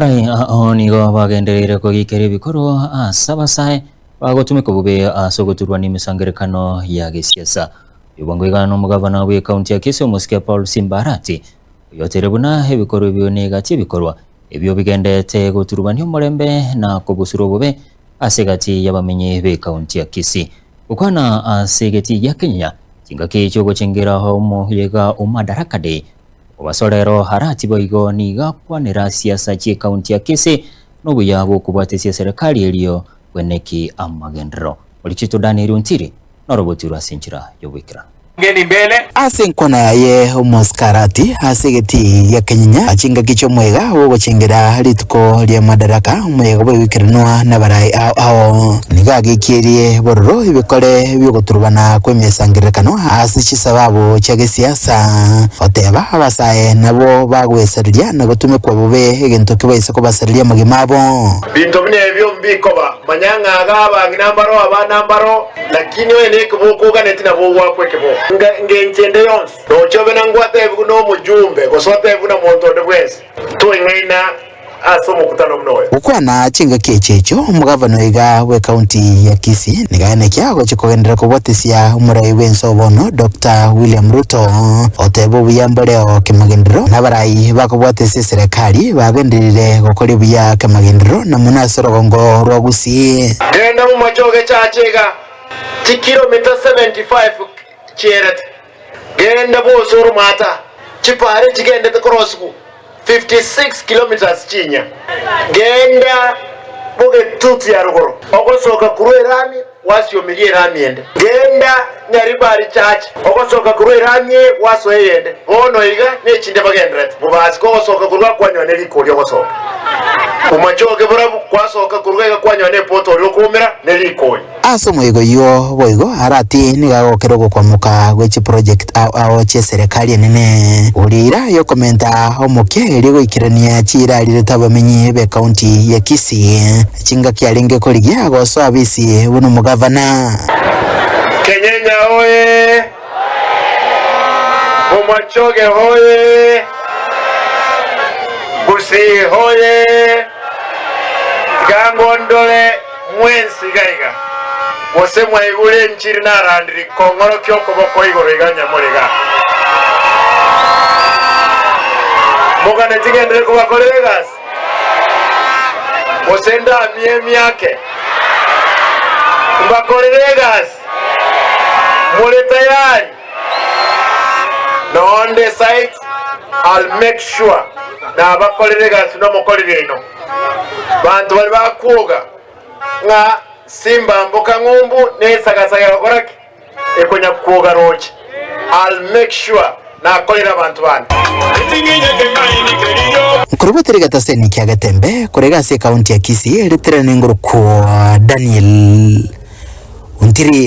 Aye ao nigo bagendereire kogiikera ebikorwa ase abasae bagotumeka bobe ase ogoturwa nemesangerekano ya gesiasa. Oyio bwango iga nomogavana bw'ekaunti ya Kisii omosike Paul Simba Arati, oyoteire buna ebikorwa ebio negati ebikorwa ebio bigenderete goturubania omorembe na kobusura obobe ase egati y'abamenyi b'ekaunti ya Kisii. Gokwana ase egati gia Kenya, chingaki chi'ogochengera omoyo iga o Madaraka Day Obasorero Arati boigo nigo akwanera siasa chi'ekaunti ake ase nobuya bw'okobwatesia eserekari erio bweneki amagenderero. Orichito Danieli Ontiri norobotiro ase enchera y'oboikeranu. Ase enkwana yaye omosike Arati ase egetii gia kenyinya chingaki chi'omwega bw'ogochengera rituko ria Madaraka, omoyega bw'egoikeranwa nabaraai ao ao. Nigo agekierie bororo ebikore bi'ogoturubana kw'emesangererekano ase chisababu chia gesiasa. Sa, oteba abasae nabwo bagwesareria na gotumekwa bobe egento kebaise kobasareria amagima abo. Binto buna ebio mbikoba, manya ng'a aga abang'ina mbaro abana mbaro, lakini oye nekeboko oganeti nabo ogwakwa ekeboko. Nga ngenche ende yonsi, noche obe na ngwatebigu nomojumbe, gose otebigu na monto onde bwensi, toing'aina ase omokutano buna oyo. Gokwana chingaki echi echo, omogavana oiga bw'ekaunti ya Kisii nigo ayaneke agochia kogenderera kobwatesia omorai bw'ense oo bono, Doctor William Ruto, oteba obuya mboreo kemagenderero nabarai bakobwatesia eserekari bagenderire gokoria buya kemagenderero na mono ase orogongo rwa Gusii. Genda momache ogechache iga, chikiromita 75 chierete. Genda bwose ore omwata, chipaara echi chigendete korosibu 56 kilometres chinya, genda bogetutu ya rogoro ogosoka korwa erami gwasiomeria erami ende, genda Nyaribari church ogosoka korwa erami eye gwasoa eyende, bono iga nechinde bagenderete mobasi kogosoka korwa kwanyoa ne riko oria ogosoka omochoge borabu kwasoka korwa iga kwanyoa ne poto oria okoumera ne riko oyo. Ase omoika oyio boigo Arati nigo agokera ogokwamoka gwe chiproject ao ao chi'eserekari enene, goria eira y'okomenta omokia eria egoikerania chiira arirete abamenyi b'ekaunti ya Kisii, chingaki arenge korigia gosoa abisi buna omogavana. Kenyenya oye! Bomachoge oye! Gusii oye! Tiga ngo ndore. Mwensi iga iga, gose mwaigure enchiri narandiri kong'orokia okoboko igoro iga onye more iga. Mogane ting'endire kobakorera egasi, gose ndamie emiake mbakorere egasi. More tayari? Nonde site I'll make sure nabakorera egasi nomokori riaino. Banto baria bakwoga ng'a simbamboka ng'umbu nesagasaga gokora ki? Ekonya kwoga roche. I'll make sure nakorera abanto bane. Nkorogwe tiri getaseni kia Getembe korega ase ekaunti ya Kisii ritirana enguruko Daniel Ontiri.